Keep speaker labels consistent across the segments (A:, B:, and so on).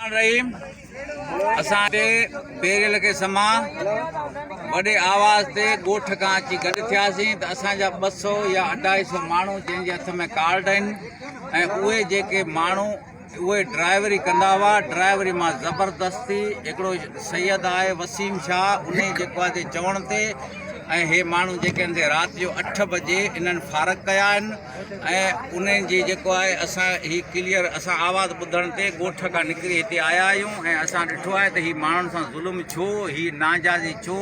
A: الرحيم اسان ٽي بيريل کي سما وڏي آواز تي ڳوٺ کان اچي گڏ ٿياسين ته اسان جا ٻه سو يا اڍائي سو ماڻهو جن جي هٿ ۾ ڪارڊ آهن ۽ اهي جيڪي ماڻهو اهي ڊرائيوري ڪندا هئا ڊرائيوري مان زبردستي هڪڙو سيد آهي وسيم شاهه ان جي جيڪو آهي چوڻ تي ۽ هي ماڻهو جيڪي آهن رات جو اٺ بجي انهن فارغ ڪيا آهن ۽ ان جي جيڪو آهي اسان هي ڪليئر اسان آواز ٻڌڻ تي ڳوٺ کان نڪري هتي آيا آهيون ۽ اسان ڏٺو آهي ته هي ماڻهن سان ظلم ڇو هي ناجائزي ڇو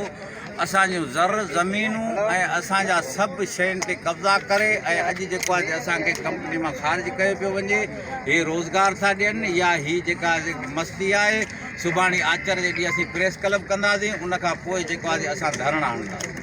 A: اسان جون زر زمينون ۽ اسان جا سڀ شين تي قبضا ڪري ۽ اڄ جيڪو آهي اسان کي ڪمپني مان خارج ڪيو پيو وڃي هي روزگار ٿا ڏين يا هي جيڪا مستي آهي سڀاڻي آچر جي ڏينهن اسين پريس ڪلب ڪنداسين ان کان پوء جيڪو آهي اسان ڌرڻا هڻنداسين